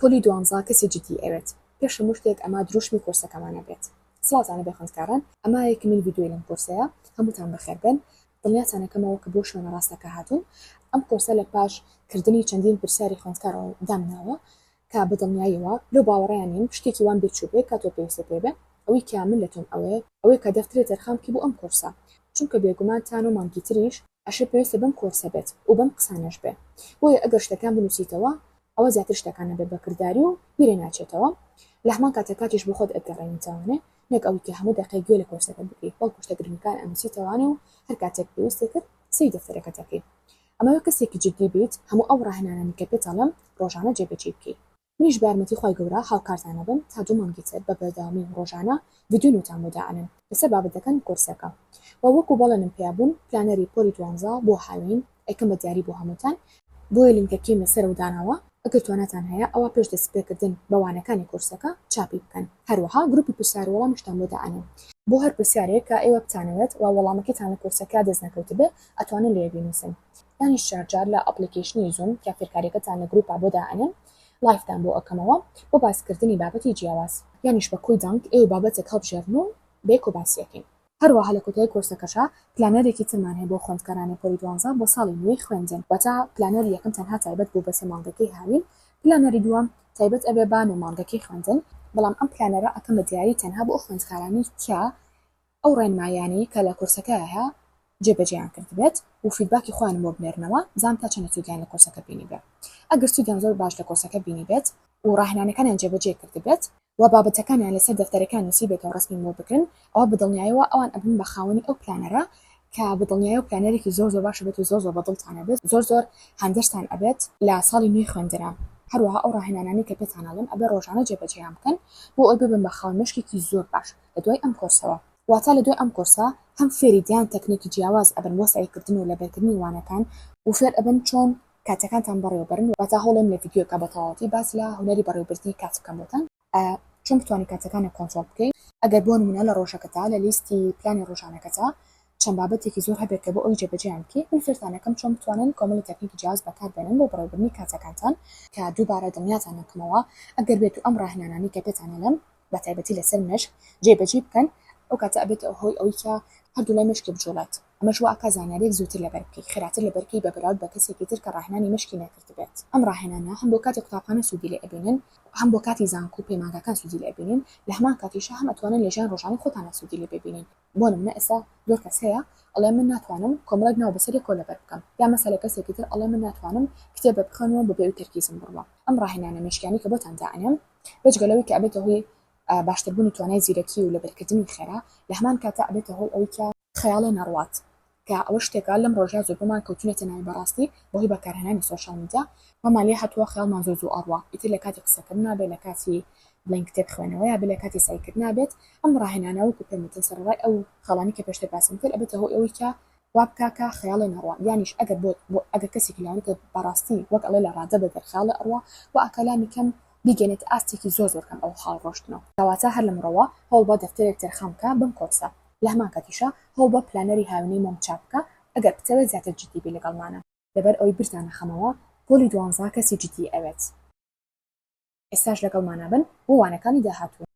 پۆلی دوانزە کەسی جدی ئەوێت پێش هەموو شتێک ئەمە دروشمی کۆرسەکەمانە بێت سڵاوتان هەبێ خوێندکاران ئەمە یەکە مین ڤیدۆی لەم کۆرسەیە هەمووتان بەخێر بێن دڵنیاتان ئەکەمەوە کە بۆ شوێنە ڕاستەکە هاتوون ئەم کۆرسە لە پاش کردنی چەندین پرسیاری خوێندکارەوە دامناوە کە بە دڵنیایەوە لەو باوەڕەیان نیم شتێکی وام بێ چووبێ کاتۆ پێویستە پێ بێ ئەوەی کە من لە تۆم ئەوەیە ئەوەیە کە دەفترێ تەرخان بکەی بۆ ئەم کۆرسە چونکە بێگومان تا نۆ مانگی تریش ئەشێ پێویستە بەم کۆرسە بێت و بەم قسانەش بێ بۆیە ئەگەر شتەکان بنوسیتەوە ئەوە زیاتر شتەکان ئەبێ بە کرداری و بیرێ ناچێتەوە لە هەمان کاتە کاتیش بۆ خۆت ئەگەڕێی میتوانێ نەک ئەوی کە هەموو دەقێک گوێ لە کۆرسەکەت بگری بەڵکو شتە گرنگەکان ئەنوسیتەوانێ و هەر کاتێک پێویستت کرد سەیری دەفتەرەکەت ئەکەی ئەمەوێ کەسێکی جدی بیت هەموو ئەو ڕاهێنانانەی کە پێت ئەڵێم ڕۆژانە جێ بەجێی بکەی. منیش بەیارمەتی خوای گەورە هاوکارتان ئەبم تا دوو مانگی تر بە بەردەوامی ڕۆژانە ڤیدیۆی نوتان بۆ دائەنێم لەسەر بابەتەکەن کۆرسەکە وە وەکو بەڵێنم پیا بوون پلانەری پۆلی دوانزە بۆ هاوین ئەیکەم بە دیاری بۆ هەمووتان بۆیە لینکەکیم لە سەرەوە داناوە ئەگەر تواناتان هەیە ئەوا پێش دەست پێکردن بە وانەکانی کۆرسەکە چاپی بکەن هەروەها گروپی پرسیار وەڵامیشتان بۆ دائەنێم بۆ هەر پرسیارێک کە ئێوە بتانەوێت وە وەڵامەکەیتان لە کۆرسەکە دەست نەکەوتبێ ئەتوانن لێ بینوسن. ئەویش چوار جار لە ئەپڵیکەیشنی زووم کە فێرکاریەکەتان لە گروپا بۆ دائەنێم لایڤتان بۆ ئەکەمەوە بۆ باسکردنی بابەتی جیاواز. یانیش بە کۆی دەنگ ئێوە بابەتێک هەڵبژێرن و بەیەکەوە باسیەکەین. هەروەها لە کۆتایی کۆرسەکەشا پلانەرێکی ترمان هەیە بۆ خوێندکارانی پۆلی دوانزە بۆ ساڵی نوێی خوێندن واتە پلانەری یەکەم تەنها تایبەت بوو بە سێ مانگەکەی هاوین پلانەری دووەم تایبەت ئەبێ بە نۆ مانگەکەی خوێندن بەڵام ئەم پلانەرە ئەکەم بە دیاری تەنها بۆ ئەو خوێندکارانەی کە ئەو ڕێنماییانەی کە لە کۆرسەکەیه جێ بەجێیان کردبێت و فیدباکی خۆیان بۆ بنێرنەوە بزانم تا چەندە سوودیان لە کۆرسەکە بینیبێ ئەگەر سوودیان زۆر باش لە کۆرسەکە بینیبێت و ڕاهێنانەکانیان جێ بەجێ کردبێت و بابەتەکانیان لەسەر دەفتەرەکەیان نووسیبێتەوە ڕەسمیم بۆ بگرن ئەوا بە دڵنیایەوە ئەوان ئەبن بە خاوەنی ئەو پلانەرە کە بە دڵنیایەوە پلانەرێکی زۆر زۆر باشبێت و زۆر زۆر بە دڵتان ئەبێت زۆر زۆر هاندەرتان ئەبێت لە ساڵی نوێی خوێندنە هەروەها ئەو ڕاهێنانانەی کە پێتان ئەڵێم ئەبێ ڕۆژانە جێ بەجێیان بکەن بۆ ئەوەی ببن بە خاوەن مێشکێکی زۆر باش. لە دوای ئەم کۆرسەوە. واتە لە دوای ئەم کۆرسە هەم فێری دیان تەکنیکی جیاواز ئەبن بۆ سەعی کردن و لەبەرکردنی وانەکان و فێر ئەبن چۆن کاتەکانتان بەڕێوە بەرن واتە هەوڵێم لە ڤیدیۆیەکا بە تەواوەتی باس لە هونەری بەڕێوەبردنی کات بکەم بۆتان چۆن بتوانی کاتەکانت کۆنترۆڵ بکەی. ئەگەر بۆ نمونە لە ڕۆژەکەتا لە لیستی پلانی ڕۆژانەکەتا چەند بابەتێکی زۆر هەبێت کە بۆ ئەوەی جێبەجێیان بکەی من فێرتان ئەکەم چۆن بتوانن کۆمەڵی تەکنیکی جیاواز بەکار بێنن بۆ بەڕێوەبردنی کاتەکانتان کە دووبارە دڵنیاتان ئەکەمەوە ئەگەر بێتو ئەم ڕاهێنانانەی کە پێتان ئەلێم بە تایبەتی لەسەر مێشک جێ بەجێی بکەن ئەو کاتە ئەبێتە هۆی ئەوەی کە هەردوو لای مێشکێ بجوڵێت ئەمەش وا ئەکا زانیاریەک زووتر لەبەر بکەی خێراتر لەبەر کەی بە بەراورد بە کەسێکی تر کە ڕاهێنانی مێشکی نەکردبێت ئەم ڕاهێنانە هەم بۆ کاتی قوتابخانە سوودی لێ ئەبینن هەم بۆ کاتی زانکۆ و پەیمانگاکان سوودی لێ ئەبینن لە هەمان کاتیشا هەم ئەتوانن لە ژیان ڕۆژانەی خۆتانا سوودی لێ ببینن. بۆ نمونە ئێستا زۆر کەس هەیە ئەڵێ من ناتوانم کۆمەڵێک ناو بەسەر یەک کۆلەبەر بکەم یان مەسەلە کەسێکی تر ئەڵێ من ناتوانم کتێبێک بخوێنم و بەبێ ئەوی تەرکیزم بڕوا ئەم ڕاهێنانە مێشکیانەی کە بۆتان دائەنێم بێجگە لەوەی کە ئەبێتە هۆی باشتربوونی توانای زیرەکی و لەبەرکردنی خێرا لەهەمان کاتا ئەبێتە هۆی ئەوی کە خەیاڵێ نەڕوات کە ئەوە شتێکە لەم ڕۆژە زۆربەمان کەوتوونەتە ناوی بەڕاستی بەهۆی بەکارهێنانی سۆشیال میدیا وامان لێ هاتووە خەیاڵمان زۆر زوو ئەڕوا ئیتر لە کاتی قسەکردنا بێ لە کاتی بڵێن کتێب خوێنەوەیا بێ لە کاتی سەعیکردنا بێت ئەم ڕاهێنانە وەکو پێم وتن سەرەڕای ئەو خاڵانەی کە پێشتر باسم کرد ئەبێتە هۆی ئەوەی کە وا بکا کە خەیاڵێ نەڕوا یانیش ئەگەر بۆت بۆ ئەگەر کەسێکی لاوەکە بەڕاستی وەک ئەڵێ لە ڕادە بێ گەر خەیاڵێ ئەڕوا وا ئەکا لانی کەم بیگەنێتە ئاستێکی زۆر زۆر کەم ئەو هەڵڕۆشتنە کەواتە هەر لەمڕۆوە هەوڵ بە دەفتەرێک تەرخان بکە بەم کۆرسە لەهەمان کاتیشا هەوڵ بە پلانەری هاوینەی مۆم چاک بکە ئەگەر بتەوێت زیاتر جدی بی لەگەڵمانا. لەبەر ئەوەی برتانە خەمەوە پۆلی دوانزە کەسی جدی ئەوێت ئێستاش لەگەڵمانا بن بۆ وانەکانی داهاتوو.